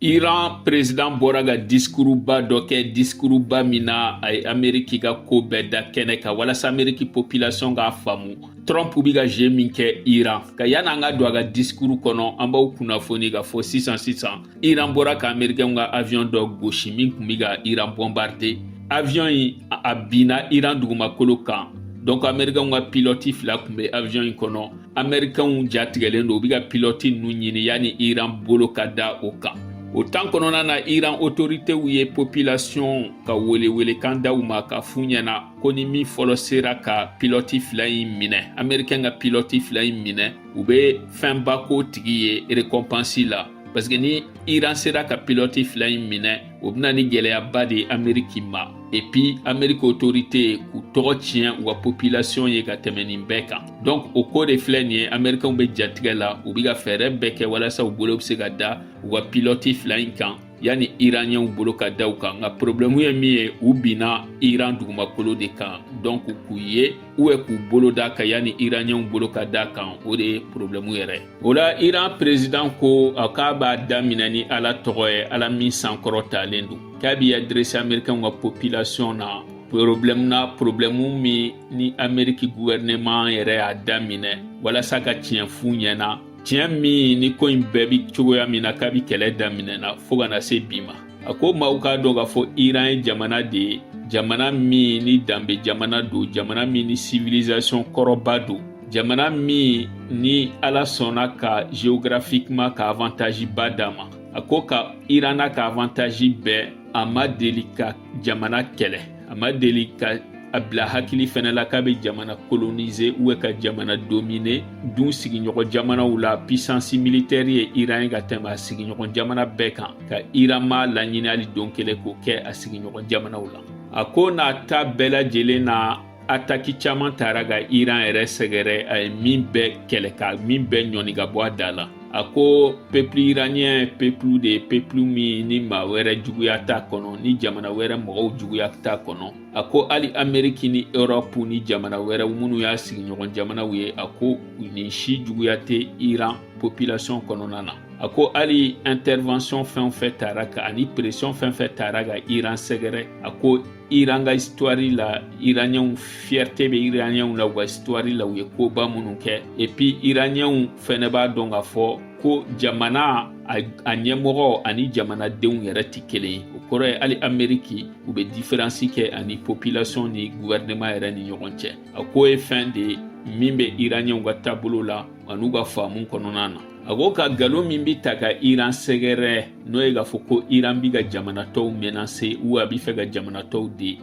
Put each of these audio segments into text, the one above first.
Iran prezidan bɔra ka diskuruba dɔ kɛ diskuruba min na a ye ameriki ka ko bɛɛ da kɛnɛ kan walasa ameriki popilasiyɔn k'a faamu trump bi ka je min kɛ iran kan yanni an ka don a ka diskuru kɔnɔ an b'aw kunnafoni k'a fɔ sisan sisan iran bɔra ka amerikɛnw ka aviɔn dɔ gosi min kun bi ka iran bɔnbarde aviɔn yi a binna iran dugumakolo kan donc amerikɛnw ka pilɔti fila kun be aviɔn yi kɔnɔ amerikɛnw jatigɛlen don u bɛ ka pilɔti ninnu ɲini yanni iran bolo ka da o kan o tan kɔnɔna na iran otoritew ye popilasiyɔn ka welewelekan da u ma k'a f'u ɲɛna ko ni min fɔlɔ sera ka pilɔti fila in minɛ amerikɛn ka pilɔti fila in minɛ u bɛ fɛnba k'o tigi ye rekɔnpansi la parce que ni iran sera ka pilɔti fila in minɛ o bɛ na ni gɛlɛyaba de ye ameriki ma epi ameriki otorite k'u tɔgɔ tiɲɛ u ka popilasiyɔn ye ka tɛmɛ nin bɛɛ kan donk o ko de filɛ nin ye amerikɛnw bɛ jatigɛ la u bɛ ka fɛɛrɛ bɛɛ kɛ walasa u bolo bɛ se ka da u ka pilɔti fila in kan yanni iraniyɛnw bolo ka da u kan nka porobilɛmu ye min ye u binna iran dugumakolo de kan donk k'u ye u k'u bolo d'a kan yanni iraniyɛnw bolo ka d'a kan o de ye porobilɛmu yɛrɛ ye o la iran perezidan ko k'a b'a daminɛ ni ala tɔgɔ ye ala min sankɔrɔtalen don k'a b'i adresi amerikɛnw ka popilasiyɔn na porobilɛmu na porobilɛmu min ni ameriki guwɛrineman yɛrɛ y'a daminɛ walasa ka tiɲɛ f'u ɲɛna tiɲɛ min ni ko in bɛɛ bi cogoya min na kabi kɛlɛ daminɛna fɔɔ ka na se bi ma a ko maaw k'a dɔn k'a fɔ iran ye jamana de ye jamana min ni danbe jamana don jamana min ni civilisation kɔrɔba don jamana min ni ala sɔnna ka geographiquement ka avantage ba d'a ma a ko ka iran n'a ka avantage bɛɛ a ma deli ka jamana kɛlɛ a ma deli ka a bila hakili fɛnɛ la k'a bɛ jamana kolonize ou bien ka jamana domine dun sigiɲɔgɔn jamanaw la pisansi militɛri ye iran ye ka tɛmɛ a sigiɲɔgɔn jamana bɛɛ kan ka iran m'a laɲini hali don kelen k'o kɛ a sigiɲɔgɔn jamanaw la a ko n'a ta bɛɛ lajɛlen na ataki caman taara ka iran yɛrɛ sɛgɛrɛ a ye min bɛɛ kɛlɛ ka min bɛɛ ɲɔni ka bɔ a da la a ko pepulu iraniyɛn pepulu de ye pepulu min ni maa wɛrɛ juguya t'a kɔnɔ ni jamana wɛrɛ mɔgɔw juguya t'a kɔnɔ a ko hali ameriki ni erɔpu ni jamana wɛrɛw minnu y'a sigiɲɔgɔn jamanaw ye a ko nin si juguya tɛ iran population kɔnɔna na a ko hali intervention fɛn o fɛn taara ka ani pression fɛn fɛn taara ka iran sɛgɛrɛ a ko iran ka histoire la iraniyɛnw fierté bɛ iraniyɛnw la u ka histoire la u ye koba minnu kɛ et puis iraniyɛnw fɛnɛ b'a dɔn k'a fɔ ko jamana a ɲɛmɔgɔ ani jamanadenw yɛrɛ tɛ kelen ye o kɔrɔ ye hali ameriki u bɛ diferansi kɛ ani popilasɔn ni guvɛrɛnɛman yɛrɛ ni ɲɔgɔn cɛ a ko o ye fɛn de ye min bɛ iraniyɛnw ka taabolo la an'u ka faamu kɔnɔna na a ko ka nkalon min bɛ ta ka iran sɛgɛrɛ n'o ye k'a fɔ ko iran bɛ ka jamana tɔw menase u a bɛ fɛ ka jamana tɔw de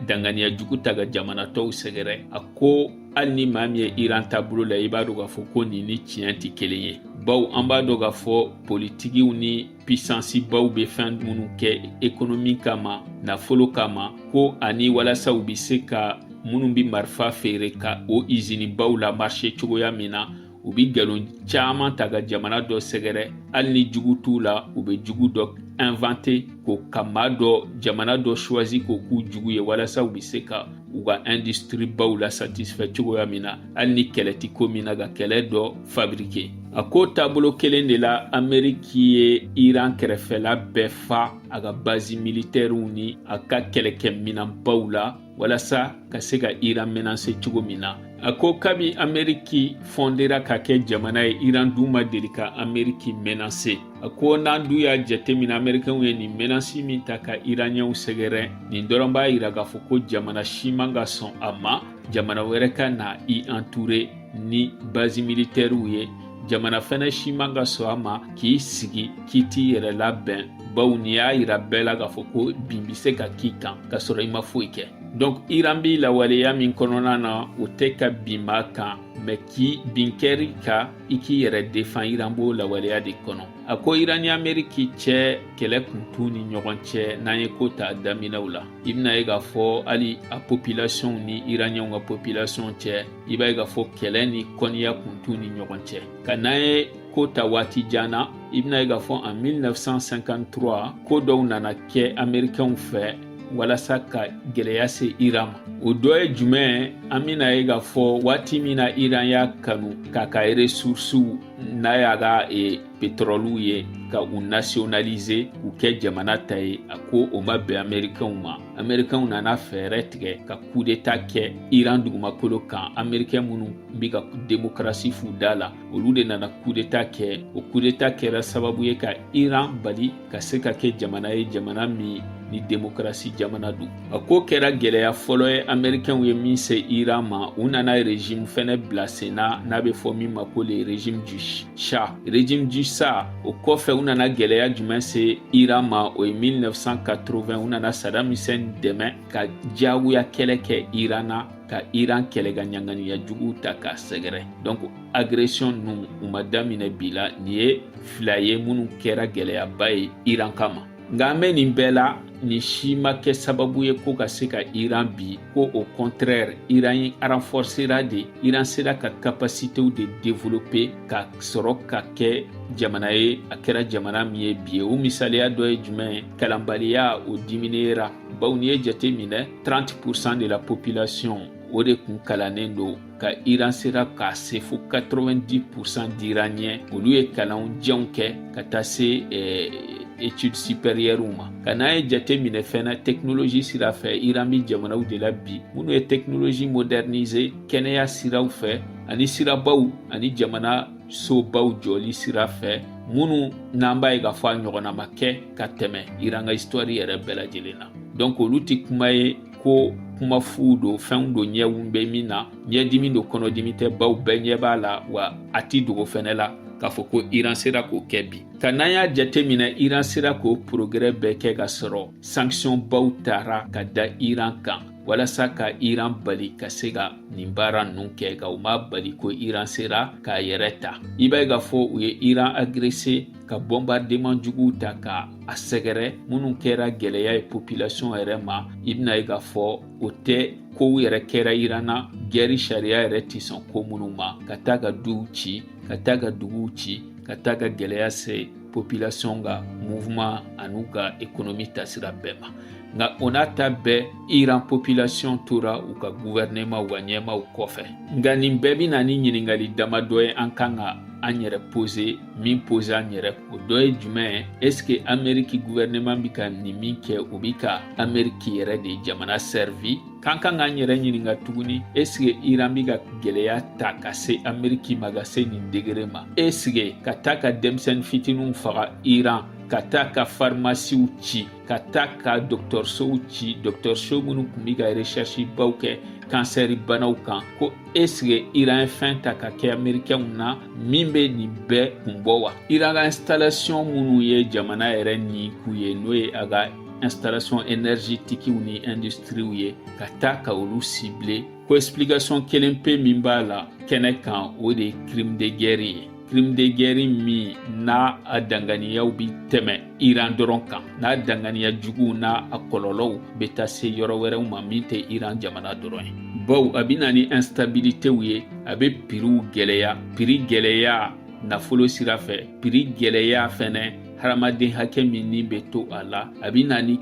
danganiya jugu ta ka jamana tɔw sɛgɛrɛ a ko hali ni maa min ye iran taabolo la i b'a dɔn k'a fɔ ko nin ni tiɲɛ tɛ kelen ye baw an b'a dɔn k'a fɔ politikiw ni pisansibaw bɛ fɛn minnu kɛ ekonomi kama nafolo kama ko ani walasa u bɛ se ka minnu bɛ marifa feere ka o izinibaw la marise cogoya min na u bɛ nkalon caman ta ka jamana dɔ sɛgɛrɛ hali ni jugu t'u la u bɛ jugu dɔ invente ko ka maa dɔ jamana dɔ choisi k'o k'u jugu ye walasa u bɛ se ka u ka industrie baw la satisfɛ cogoya min na hali ni kɛlɛ tɛ ko min na ka kɛlɛ dɔ fabrike a ko o taabolo kelen de la ameriki ye iran kɛrɛfɛla bɛɛ fa a ka bazi militɛriw ni a ka kɛlɛkɛminanbaw la walasa ka se ka iran menase cogo min na a ko kabi ameriki fɔndera ka kɛ jamana ye iran dun ma deli ka ameriki menase A ko n'an dun y'a jateminɛ amerikɛnw ye nin menasi min ta ka iraniyɛnw sɛgɛrɛ nin dɔrɔn b'a yira k'a fɔ ko jamana si man ka sɔn a ma jamana wɛrɛ ka na i anture ni bazi militɛriw ye jamana fɛnɛ si man ka sɔn a ma k'i sigi k'i t'i yɛrɛ labɛn baw n'i y'a yira bɛɛ la k'a fɔ ko bin bɛ se ka k'i kan k'a sɔrɔ i ma foyi kɛ donk iran bɛ lahalaya min kɔnɔna na o tɛ ka bin maa kan mɛ ni bin kɛr'i kan i k'i yɛrɛ defan iran b'o lahalaya de kɔnɔ a ko iran ni ameriki cɛ kɛlɛ kun t'u ni ɲɔgɔn cɛ n'an ye ko ta daminɛw la i bɛna ye k'a fɔ hali a popilasiyɔnw ni iraniyɛnw ka popilasiyɔn cɛ i b'a ye k'a fɔ kɛlɛ ni kɔniya kun t'u ni ɲɔgɔn cɛ ka n'an ye ko ta waati jan na i bɛna ye k'a fɔ en 1953 ko dɔw nana kɛ amerikɛnw fɛ walasa ka gɛlɛya se iran ma o dɔ ye jumɛn an bɛna ye k'a fɔ waati min na iran y'a kanu k'a ka resursiw n'a y'a ka e, petrɔliw ye ka u nationalize k'u kɛ jamana ta ye a ko o ma bɛn amerikɛnw ma amerikɛnw nana fɛɛrɛ tigɛ ka kudeta kɛ iran dugumakolo kan amerikɛn minnu bɛ ka demokarasi f'u da la olu de nana kudeta kɛ o kudeta kɛra sababu ye ka iran bali ka se ka kɛ jamana ye jamana min ni demokarasi jamana don a ko o kɛra gɛlɛya fɔlɔ ye amerikɛnw ye min se iran ma u nana rezime fɛnɛ bila sen na n'a bɛ fɔ min ma ko le rezime du sha rezime du sha o kɔfɛ u nana gɛlɛya jumɛn se iran ma o ye 1980 u nana sadam hussein dɛmɛ ka diyagoya kɛlɛ kɛ iran na ka iran kɛlɛ ka ɲanganiya juguw ta k'a sɛgɛrɛ donc agression ninnu u ma daminɛ bi la nin ye fila ye minnu kɛra gɛlɛyaba ye iran kama nka an bɛ nin bɛɛ la nin si ma kɛ sababu ye ko ka se ka iran bin ko au contraire iran renforcera de iran sera ka capacitew de développer ka sɔrɔ ka kɛ jamana ye a kɛra jamana min ye bi ye o misaliya dɔ ye jumɛn ye kalanbaliya o diminuera bawo n'i ye jate minɛ 30% de la population o de kun kalannen don ka iran sera k'a se fo 90% d'iraniens olu ye kalan janw kɛ ka taa se eh, études supérieures ma ka n'an ye jate minɛ fɛnɛ technologie sira fɛ iran bi jamanaw de la bi minnu ye technologie moderniser kɛnɛya siraw fɛ ani sirabaw ani jamana sobaw jɔli sira fɛ minnu n'an b'a ye k'a fɔ a ɲɔgɔnna ma kɛ ka tɛmɛ iran ka histoire yɛrɛ bɛɛ lajɛlen na donc olu tɛ kuma ye ko kuma fu don fɛnw don ɲɛw bɛ min na ɲɛdimi don kɔnɔdimi tɛ baw bɛɛ ɲɛ b'a la wa a ti dogo fɛnɛ la k'a fɔ ko iran sera k'o kɛ bi ka n'an y'a jateminɛ iran sera k'o progrès bɛɛ kɛ ka sɔrɔ sanction baw tara ka da iran kan walasa ka iran bali ka se ka nin baara ninnu kɛ ka o m'a bali ko iran sera k'a yɛrɛ ta i b'a ye k'a fɔ u ye iran agresser ka bombardement juguw ta ka a sɛgɛrɛ minnu kɛra gɛlɛya ye population yɛrɛ ma i bɛna ye k'a fɔ o tɛ kow yɛrɛ kɛra iran na guerre sariya yɛrɛ tɛ sɔn ko minnu ma ka taa ka duw ci ka taa ka duguw ci ka taa ka gɛlɛya se population ka mouvement an'u ka économie tasira bɛɛ ma nka o n'a ta bɛɛ iran population tora u ka gouvernement u ka ɲɛmaw kɔfɛ nka nin bɛɛ bɛ na ni ɲininkali damadɔ ye an kan ka an yɛrɛ poser min poser an yɛrɛ o dɔ ye jumɛn ye est-ce que ameriki gouvernement bi ka nin min kɛ o bi ka ameriki yɛrɛ de jamana servi k'an kan k'an yɛrɛ ɲininka tuguni est-ce que iran bi ka gwɛlɛya ta ka se ameriki ma ka se nin degré ma est-ce que ka taa ka denmisɛnnin fitiniw faga iran ka taa ka pharmaciew ci ka taa ka dɔgɔtɔrɔsow ci dɔgɔtɔrɔso minnu tun bɛ ka recherchebaw kɛ cancer banaw kan ko est-ce que iran ye fɛn ta ka kɛ amerikɛnw na min bɛ nin bɛɛ kun bɔ wa iran ka installation minnu ye jamana yɛrɛ ni kun ye n'o ye a ka installation énergétiquew ni industriw ye ka taa ka olu cibler ko explication kelen pe min b'a la kɛnɛ kan o de ye crime de guerre ye crime de guerre min n'a danganiyaw bi tɛmɛ Iran dɔrɔn kan n'a danganiya juguw n'a kɔlɔlɔw bɛ taa se yɔrɔ wɛrɛw ma min tɛ Iran jamana dɔrɔn ye baw a bɛ na ni instabilitéw ye a bɛ prixw gɛlɛya prix gɛlɛya nafolo sira fɛ prix gɛlɛya fɛnɛ hadamaden hakɛ min ni bɛ to a la a bɛ na ni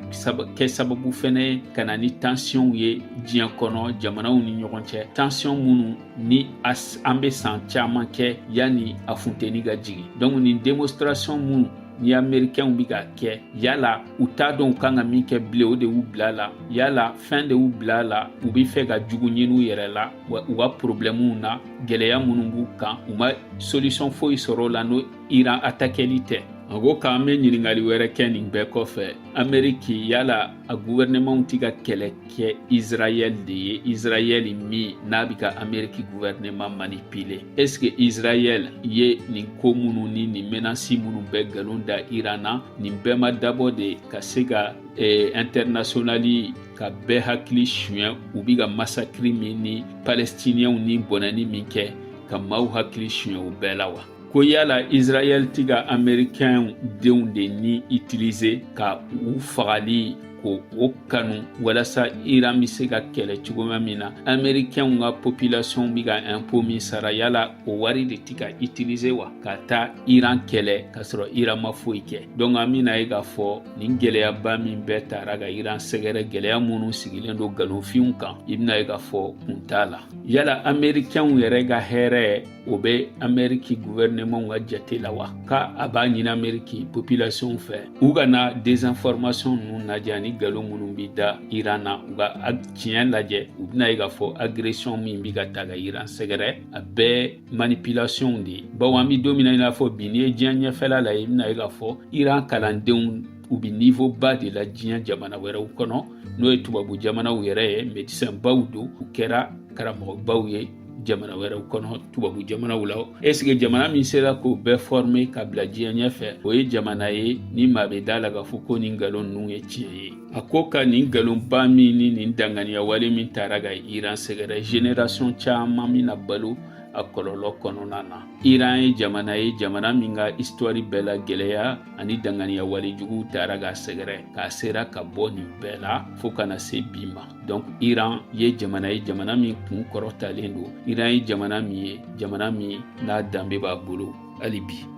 kɛ sababu fɛnɛ ye ka na ni tensionw ye diɲɛ kɔnɔ jamanaw ni ɲɔgɔn cɛ tension minnu ni an bɛ san caman kɛ yanni a funteni ka jigin donc nin demonstration minnu ni amerikɛnw bɛ ka kɛ yala u t'a dɔn u kan ka min kɛ bilen o de y'u bila la yala fɛn de y'u bila la u bɛ fɛ ka jugu ɲini u yɛrɛ la wa u ka porobilɛmuw na gɛlɛya minnu b'u kan u ma solisiyɔn foyi sɔrɔ o la n'o iran atakɛli tɛ a ko k'an bɛ ɲininkali wɛrɛ kɛ nin bɛɛ kɔfɛ ameriki yala a guvɛrɛnɛmanw tɛ ka kɛlɛ kɛ israɛl de ye israɛl min n'a bɛ ka ameriki guvɛrɛnɛman manipile eske israɛl ye nin ko minnu ni nin menasi minnu bɛɛ nkalon da iran na nin bɛɛ ma dabɔ de ka se ka eh, internationali ka bɛɛ hakili suɲɛ u bɛ ka masakiri min ni palestiniyɛnw ni bɔnɛni min kɛ ka maaw hakili suɲɛ u bɛɛ la wa ko yala israɛl ti ka amerikɛnw denw de ni itilize ka u fagali ko kanu walasa iran be se ka kɛlɛ cogoma min na amerikɛnw ka popilasiyɔn be ka ɛnpo min sara yala o wari de ti ka itilize wa ka taa iran kɛlɛ k'a sɔrɔ iran ma foyi kɛ donk an bena ye k'a fɔ nin gwɛlɛyaba min bɛɛ taara ka iran sɛgɛrɛ gwɛlɛya minnu sigilen don galonfinw kan i bena ye k'a fɔ kun t'a la yala amerikɛnw yɛrɛ ka hɛrɛ o bɛ ameriki guvɛrɛnɛmanw ka jate la wa ka a b'a ɲini ameriki popilasiyɔn fɛ u kana dezinfɔrmasiyɔn ninnu lajɛ ani galon minnu bɛ da iran na u ka tiɲɛ lajɛ u bɛna ye k'a fɔ agresiyɔn min bɛ ka taa ka iran sɛgɛrɛ a bɛɛ manipilasiyɔnw de ye bawo an bɛ don min na i n'a fɔ bi n'i ye diɲɛ ɲɛfɛla lajɛ i bɛna ye k'a fɔ iran kalandenw u bɛ nivo ba de la diɲɛ jamana wɛrɛw kɔnɔ n'o ye tubabu jamanaw yɛrɛ ye medisɛnbaw don u kɛra karamɔgɔbaw ye jamana wɛrɛw kɔnɔ tubabu jamanaw la esike jamana min sera k'o bɛɛ fɔrme ka bila diɲɛ ɲɛfɛ o ye jamana ye ni maa be da a la k'a fɔ ko nin nkalon ninnu ye tiɲɛ ye a ko ka nin nkalonba min ni nin danganiya wale min taara ka iran sɛgɛrɛ generasiɔn caaman bɛna balo a kɔlɔlɔ kɔnɔna na iran ye jamana ye jamana min ka istwari bɛɛ la gwɛlɛya ani danganiya wale juguw taara k'a sɛgɛrɛ k'a sera ka bɔ nin bɛɛ la fɔɔ ka na se bi ma donc iran ye jamana ye jamana min kun kɔrɔtalen don iran ye jamana min ye jamana min n'a danbe b'a bolo hali bi